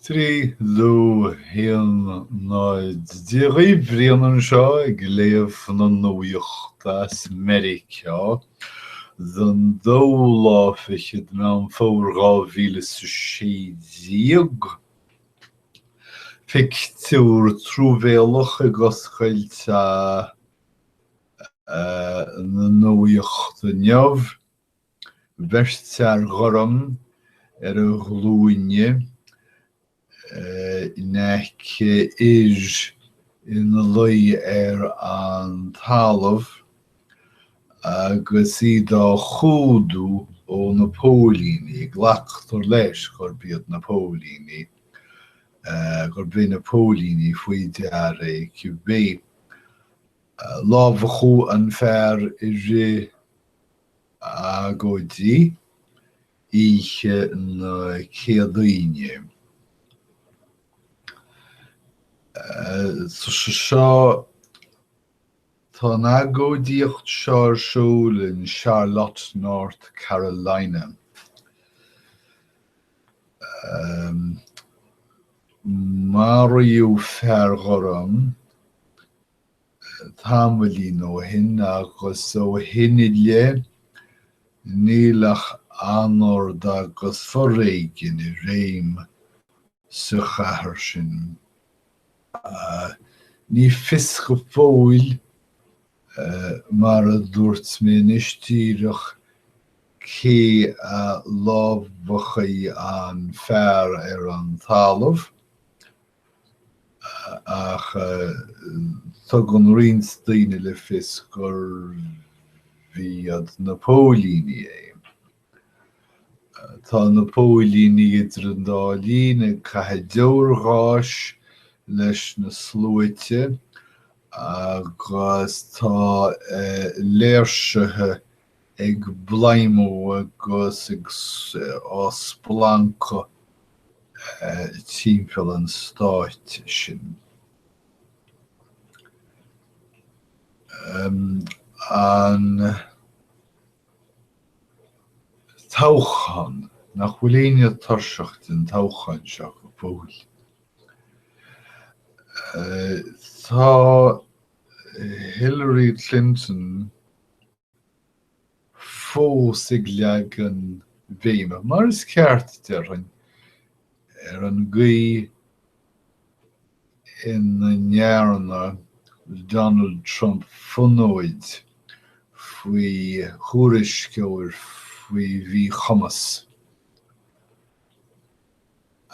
Trí, dó, haon, náid Dáithí, Brian anseo ag léamh na nuachta as Meiriceá den dóú lá fichead Meán Fómhair dhá mhíle is a sé déag. Pictiúr truamhéalach ag oscailt na nuachta inniu. Beirt fhear ghorm ar a ghlúine in aice fhir ina luí ar an talamh agus iad á chumhdú ó na póilíní. Glactar leis gurb iad na póilíní, gurb iad na póilíní faoi deara é cibé. Lámhachadh an fear i rith Agóidí oíche na Céadaoine. Seo, tá an agóidíocht seo ar siúl in Charlotte, North Carolina. Maraíodh fear gorm tamaillín ó shin agus ó shin i leith níl ach anord agus foréigean i réim sa chathair sin. Ní fios go fóill, mar a dúirt mé anois díreach, cé a lámhaigh an fear ar an talamh, ach tugann roinnt daoine le fios gurbh iad na póilíní é. Tá na póilíní idir an dá linn ag caitheamh deoirgháis leis na sluaite agus tá léirsithe ag bladhmadh agus ag splancadh timpeall an stáit sin. An toghchán, nach bhfuil éinne tuirseach den toghchán seo go fóill? Tá Hillary Clinton, fós ag leagan béime, mar is ceart, déarfainn, ar an gcaoi ina ndearna Donald Trump fonóid faoi thuairisceoir faoi mhíchumas.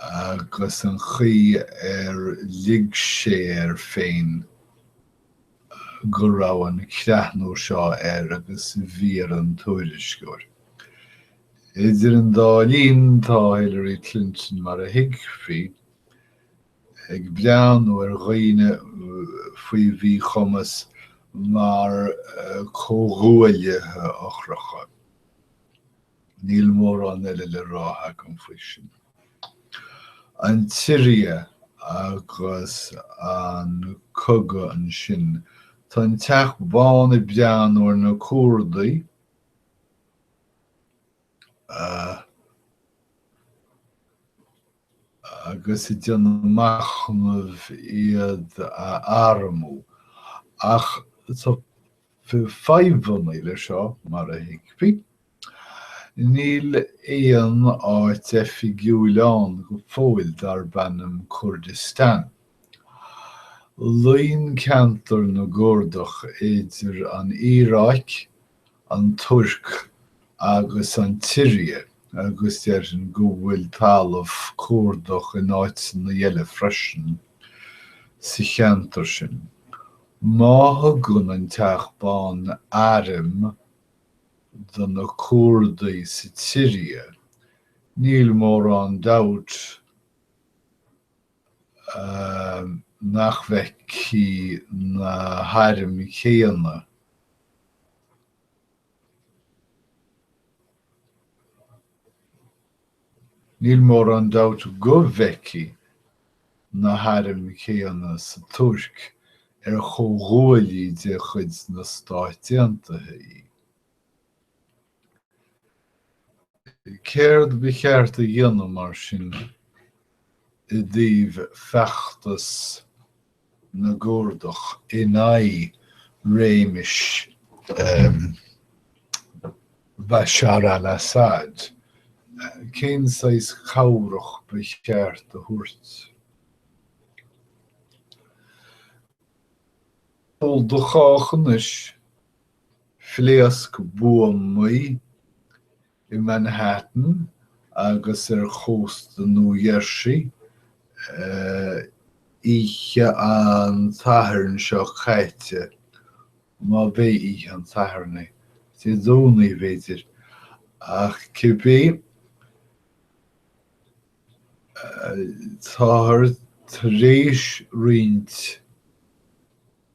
agus an chaoi ar lig sé air féin go raibh an creathnú seo air agus bhí ar an tuairisceoir. Idir an dá linn, tá Hillary Clinton, mar a thuigfí, ag breathnú ar dhaoine faoi mhíchumas mar chomhghuaillithe eochracha. Níl mórán eile le rá agam faoi sin. An tSiria agus an cogadh ansin. Tá an Teach Bán ag breathnú ar na Curdaigh agus ag déanamh machnaimh iad a armú. Ach tá Fadhbanna leis seo, mar a thuigfí. Níl aon áit oifigiúil ann go fóill darb ainm Curdastáin. Luíonn ceantar na gCurdach idir an Iaráic, an Tuirc agus an tSiria agus déarfainn go bhfuil talamh Curdach in áiteanna eile freisin sa cheantar sin. Má thugann an Teach Bán airm do na Curdaigh sa tSiria, níl mórán dabht nach bhfeicfidh na hairm chéanna Níl mórán dabht go bhfeicfidh na hairm chéanna sa Tuirc ar comhghuaillí de chuid na Stát Aontaithe í. Céard ba cheart a dhéanamh mar sin i dtaobh feachtas na gCurdach in aghaidh réimis Bashar al-Assad, cén saghas cabhrach ba cheart a thabhairt do chách anois? Phléasc buamaí i Manhattan agus ar chósta Nua Gheirsí. Oíche an tSathairn seo caite, má b'é oíche an tSathairn é, Dé Domhnaigh, b'fhéidir, ach cibé, táthar tar éis roinnt.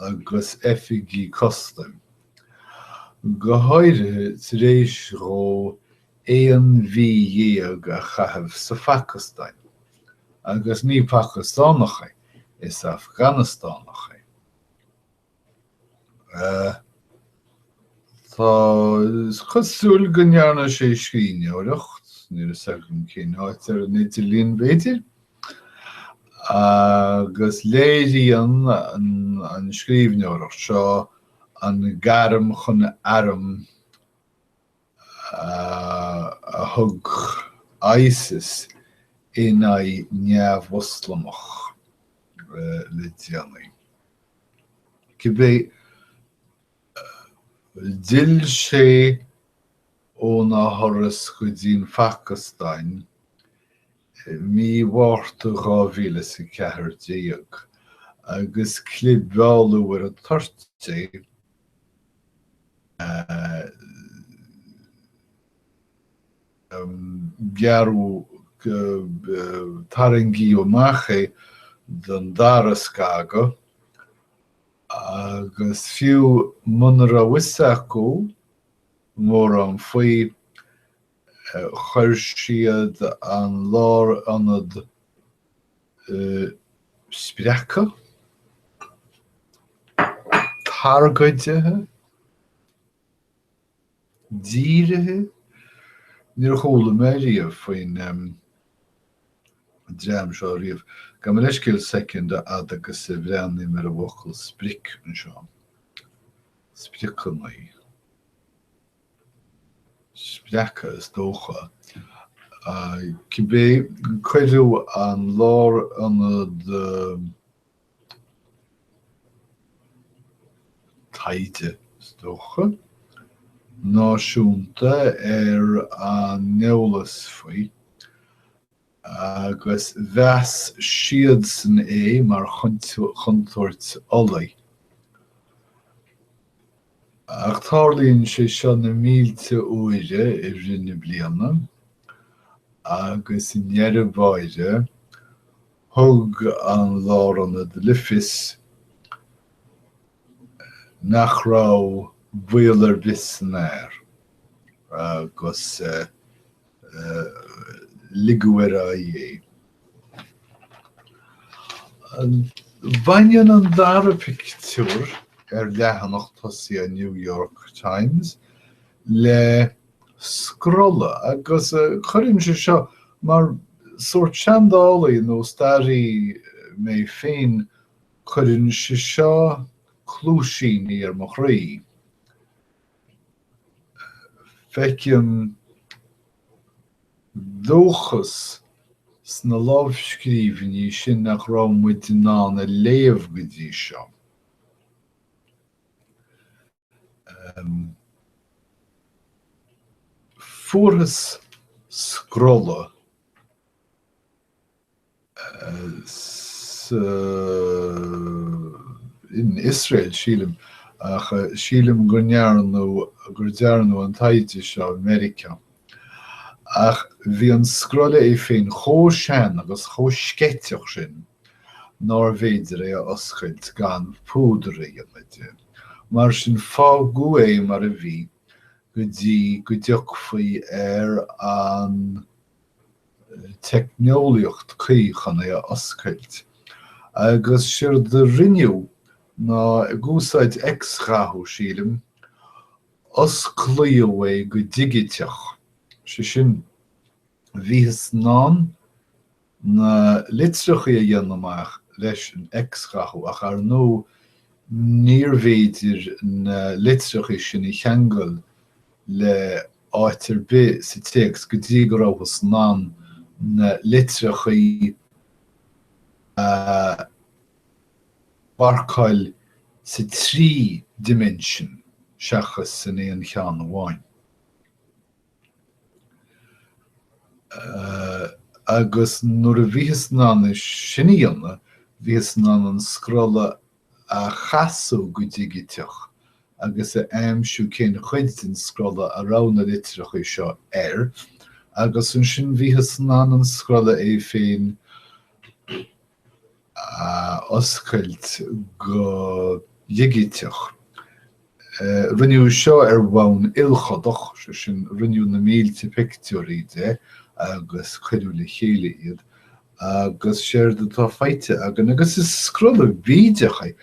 agus oifigigh custaim, go háirithe tar éis dhó aon mhí dhéag a chaitheamh sa Phacastáin, agus ní Pacastánach é, is Afganastánach é. Tá, is cosúil go ndearna sé scríbhneoireacht, níl a fhios agam cén áit, ar an idirlíon, b'fhéidir? agus léiríonn an scríbhneoireacht seo an gairm chun airm a thug ISIS in aghaidh neamh-Mhoslamach le déanaí. Cibé, d'fhill sé óna thuras go dtí an Phacastáin I mí Mhárta 2014, agus clibeáladh ar an toirt é, gearradh, tarraingíodh amach é don dara scagadh, agus fiú muna raibh a fhios acu mórán faoi, Chuir siad an lárionad sprioctha, targaidithe, dírithe, níor chuala mé riamh faoin dream seo riamh, gabh mo leithscéal, second, a fhad agus a bhreathnaím ar an bhfocal sprioc anseo, spriocannaí. sprioctha is dócha. Cibé, cuireadh an lárionad taighde, is dócha, náisiúnta ar an eolas faoi. agus mheas siadsan é mar chontúirt fholaigh. Ach tarlaíonn sé seo na mílte uaire i rith na bliana, agus i ndeireadh báire, thug an Lárionad le fios nach raibh baol ar bith san fhear, agus ligeadh ar aghaidh é. Baineann an dara pictiúr ar leathanach tosaigh an New York Times le scrolla agus cuireann sé seo mar shórt seandálaí nó staraí mé féin cuireann sé seo cluaisíní ar mo chroí. Feicim dóchas sna lámhscríbhinní sin nach raibh muid in ann a léamh go dtí seo. Fuarthas scrolla. in Iosrael, sílim, ach sílim gur ndearnadh, gur dearnadh an taighde seo i Meiriceá. Ach bhí an scrolla é féin chomh sean agus chomh sceiteach sin nárbh fhéidir é a oscailt gan púdar a dhéanamh de. Mar sin fágadh é mar a bhí go dtí go dtiocfaí ar an. teicneolaíocht chuí chun é a oscailt, agus séard a rinneadh ná, ag úsáid x-ghathú, sílim, osclaíodh é go digiteach, sé sin, bhíothas in ann na litreachaí a dhéanamh amach leis an x-ghathú, ach ar ndóigh, níorbh fhéidir na litreacha sin a cheangal le áit ar bith sa téacs go dtí go rabhthas in ann na litreachaí a mharcáil sa trí dimension seachas san aon cheann amháin. Agus nuair a bhíothas in ann sin a dhéanamh, bhíothas in ann an scrolla a chasadh go digiteach agus a aimsiú cén chuid den scrolla a raibh na litreacha seo air agus ansin bhíothas in ann an scrolla é féin a oscailt go digiteach. Rinneadh seo ar bhonn ilchodach, sé sin, rinneadh na mílte pictiúirí de agus cuireadh le chéile iad, agus séard atá faighte againn, agus is scrolla bídeach é,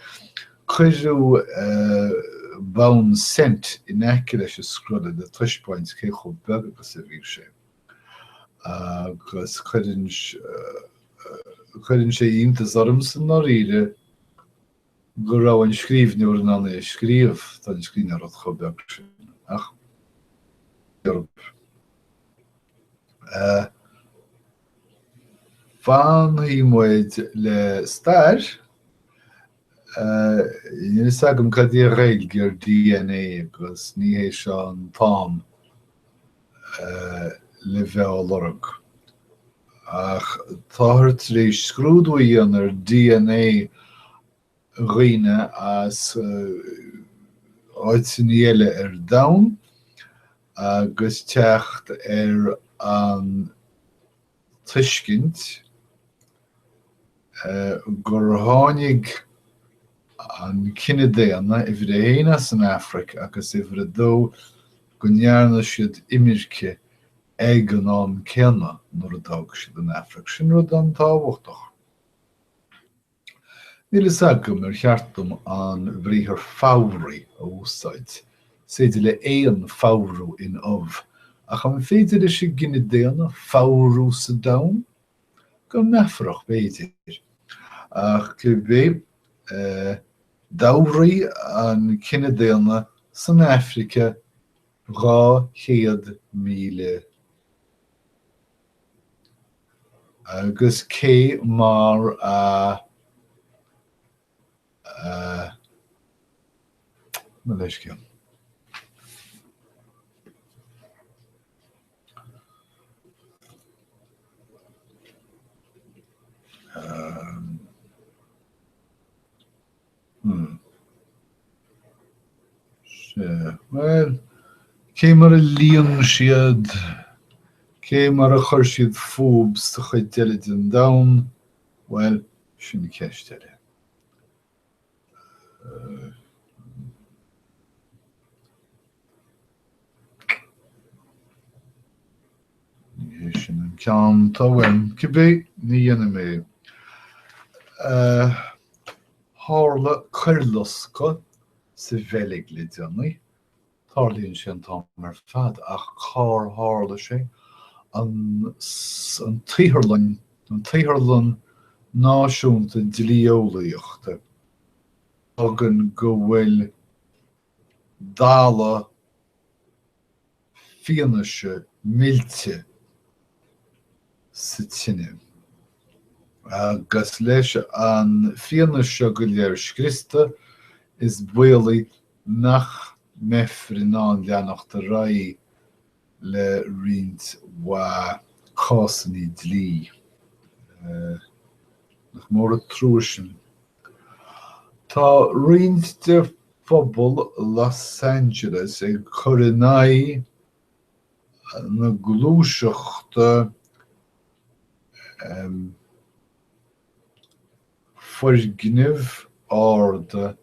cuireadh bonn cent in aice leis an scrolla le taispeáint cé chomh beag agus a bhí sé, agus cuireann sé iontas orm i ndáiríre, go raibh an scríbhneoir in ann é a scríobh tá an scríbhneoireacht chomh beag sin ach fanfaidh muid le stair. Níl fhios agam cad é an Ghaeilge ar dna agus ní hé seo an t-am le bheith á lorg. Ach táthar tar éis scrúdú a dhéanamh ar dna dhaoine as áiteanna eile ar domhan agus teacht ar an tuiscint gur tháinig an cine daonna, uimhir a haon, as an Afraic agus, uimhir a dó, go ndearna siad imirce ag an am céanna nuair a d'fhág siad an Afraic. Sin rud an-tábhachtach. Níl a fhios agam ar cheart dom an briathar fabhraigh a úsáid, is féidir le éan fabhrú in ubh, ach an féidir leis an gcine daonna fabhrú sa domhan? Go meafarach, b'fhéidir. Ach cibé, d'fhabhraigh an cine daonna san Afraic dhá chéad míle Agus cé mar a eh, mo leithscéal. Bhuel, cé mar a líon siad, cé mar a chuir siad fúb sa chuid eile den domhan, bhuel, sin ceist eile. Ní hé sin an ceann atá uaim, cibé ní dhéanfaidh mé. Tharla coirloscadh sa Bheilg le déanaí. Tarlaíonn sé an t-am ar fad, ach cár tharla sé? An tSaotharlann, an tSaotharlann Náisiúnta Dlí-Eolaíochta, a fhágann go bhfuil dalladh fianaise millte sa tine, agus leis an fianaise seo go léir scriosta, is baolach nach mbeifear in ann leanacht ar aghaidh le roinnt mhaith cásanna dlí, nach mór an trua sin. Tá roinnt de phobal Los Angeles ag cur in aghaidh na gluaiseachta foirgnimh arda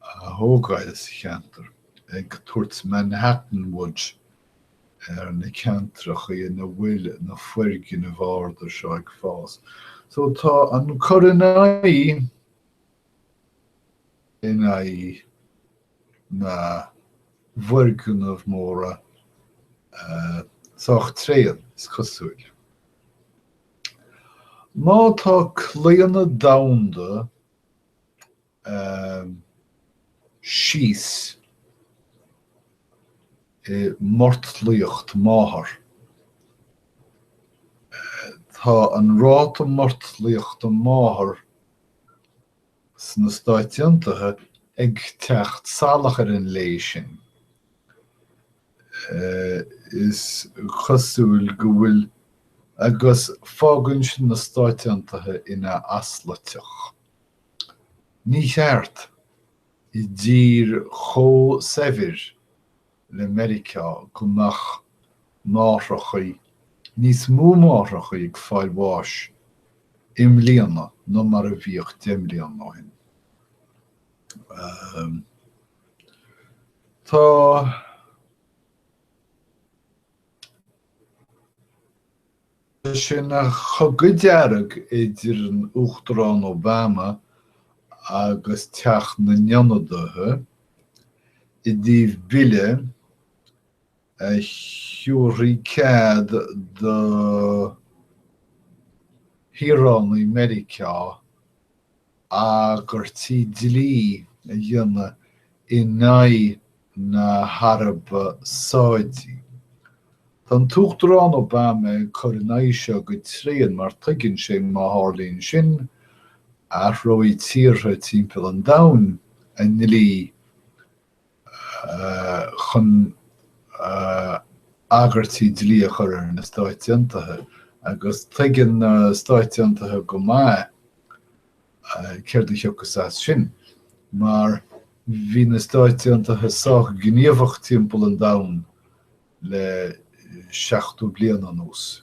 a thógáil sa cheantar, ag tabhairt Manhattan Wood ar na ceantracha ina bhfuil na foirgnimh arda seo ag fás. So tá an cur in aghaidh in aghaidh na bhfoirgneamh móra sách tréan, is cosúil. Má tá claonadh domhanda síos i mortlaíocht máthar, tá an ráta mortlaíochta máthar sna Stáit Aontaithe ag teacht salach ar an lé sin. is cosúil go bhfuil agus fágann sin na Stáit Aontaithe ina asluiteach. Ní cheart, i dtír chomh saibhir le Meiriceá, go mbeadh máithreachaí, níos mó máithreachaí ag fáil bháis i mbliana ná mar a bhíodh deich mbliana ó shin. Tá sé ina chogadh dearg idir an Uachtarán Obama agus Teach na nIonadaithe i dtaobh bille a thiúrfadh cead do shaoránaigh Mheiriceá agairtí dlí a dhéanamh in aghaidh na hAraibe Sáidí. Tá an tUachtarán Obama ag cur in aghaidh seo go tréan mar tuigeann sé má tharlaíonn sin, athróidh tíortha timpeall an domhain a ndlí chun agairtí dlí a chur ar na Stáit Aontaithe agus tuigeann na Stáit Aontaithe go maith céard a thiocfas as sin mar bhí na Stáit Aontaithe sách gníomhach timpeall an domhain le 70 bliain anuas.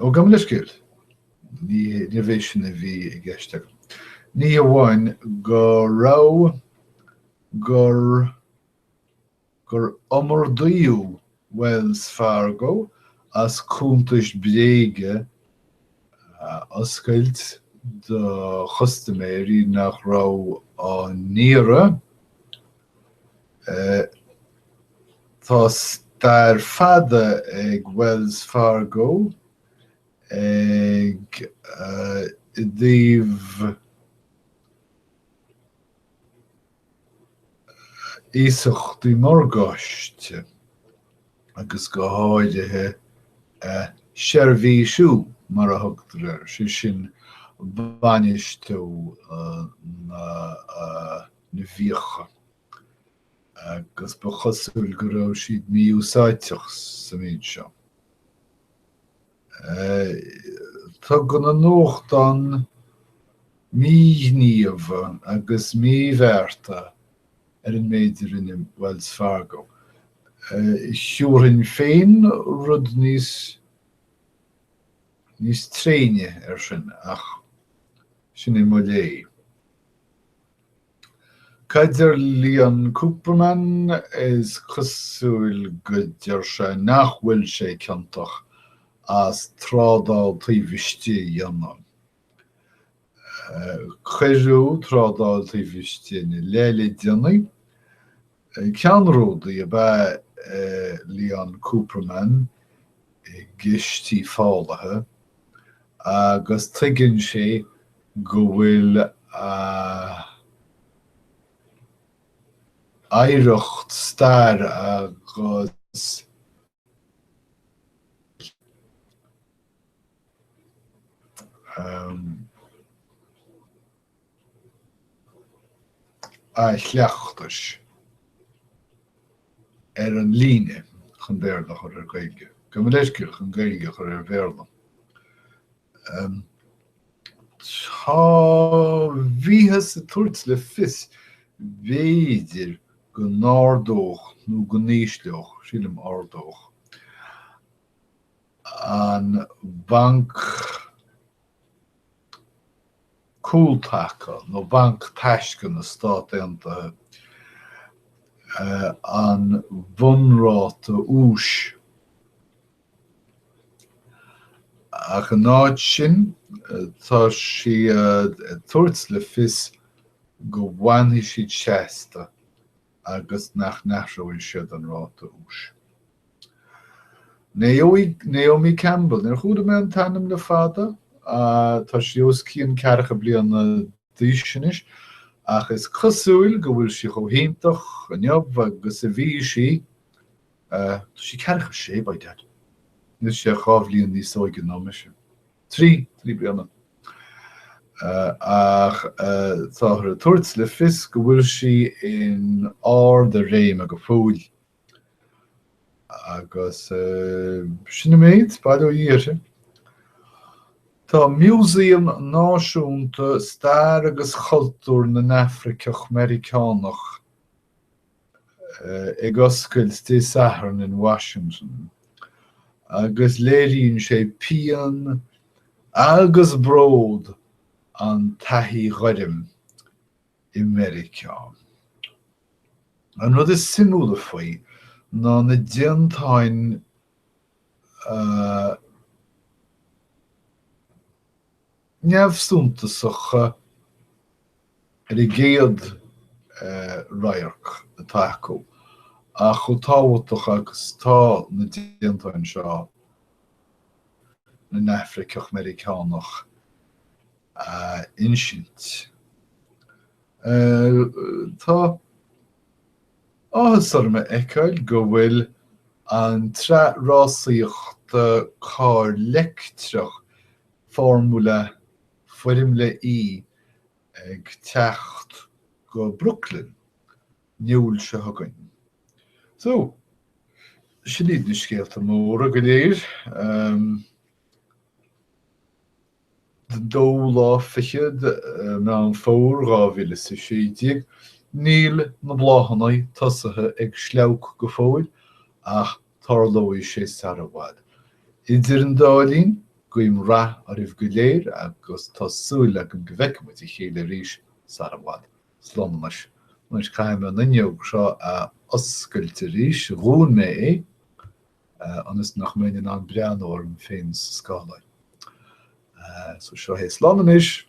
Ó gabh mo leithscéal, níorbh é sin a bhí i gceist agam. Ní hamháin go raibh gur gur iomardaíodh Wells Fargo as cuntais bréige a oscailt do chustaiméirí nach raibh á n-iarraidh, Tá stair fada ag Wells Fargo ag i dtaobh iasachtaí morgáiste agus go háirithe a seirbhísiú mar a thugtar air, sé sin bainistiú na na bhfiacha agus ba chosúil go raibh siad mí-úsáidteach sa mhéid seo. Tugann an nuachtán míghníomha agus míbhearta ar an méid a rinne Wells Fargo. Thiúrfainn féin rud níos níos tréine air sin ach sin é mo léamh. Cad ar Leon Cooperman? Is cosúil go deir sé nach bhfuil sé ciontach as trádáil taobh istigh a dhéanamh. Cuireadh trádáil taobh istigh ina leith le déanaí Ceannródaí ab ea Leon Cooperman i gcistí fálaithe agus tuigeann sé go bhfuil a oidhreacht staire agus a. a chleachtais ar an líne chun Béarla a chur ar Gaeilge, gabh mo leithscéal chun Gaeilge a chur ar Bhéarla. Tá bhíothas ag tabhairt le fios, b'fhéidir, go n-ardódh nó go n-ísleodh, sílim ardódh, an Banc Cúltaca nó banc taisce na Stát Aontaithe an bhunráta úis, ach in áit sin tá sí ag tabhairt le fios go bhfanfaidh siad seasta. agus nach n-athróidh siad an ráta úis. Naomi Campbell, níor chuala mé an t-ainm le fada, tá sí os cionn ceathracha bliana d'aois anois, ach is cosúil go bhfuil sí chomh hiontach inniu agus a bhí sí, tá sí ceathracha sé, by dad, níl sí ach dhá bhliain níos óige ná mise. trí trí bliana. Ach táthar ag tabhairt le fios go bhfuil sí in ard a réime go fóill. Agus sin an méid, bail ó Dhia uirthi. Tá Músaem Náisiúnta Stair agus Chultúr na nAfraiceach Meiriceánach ag oscailt Dé Sathairn in Washington agus léiríonn sé pian agus bród an taithí ghoirm i Meiriceá. An rud is suimiúla faoi ná na déantáin neamhshuntasacha ar an gcéad radharc atá acu ach chomh tábhachtach agus atá na déantáin seo le nAfraiceach-Meiriceánach a insint. Tá áthas orm a fheiceáil go bhfuil an tsraith rásaíochta carr leictreach formula Foirmle E ag teacht go Brooklyn, i mBliain seo chugainn. So, sin iad na scéalta móra go léir. Den dóú lá fichead de Meán Fómhair 2016, níl na bláthannaí tosaithe ag sleabhadh go fóill ach Tarlóidh sé sara bhfad. Idir an dá linn, guím rath oraibh go léir agus tá súil agam go bhfeicfidh muid a chéile arís sara bhfad. Slán anois. Muis, caithfidh mé an fhuinneog seo a oscailt arís. Dhún mé é, ionas nach mbeinn in ann breathnú orm féin sa scáileán. So, seo é. Slán anois!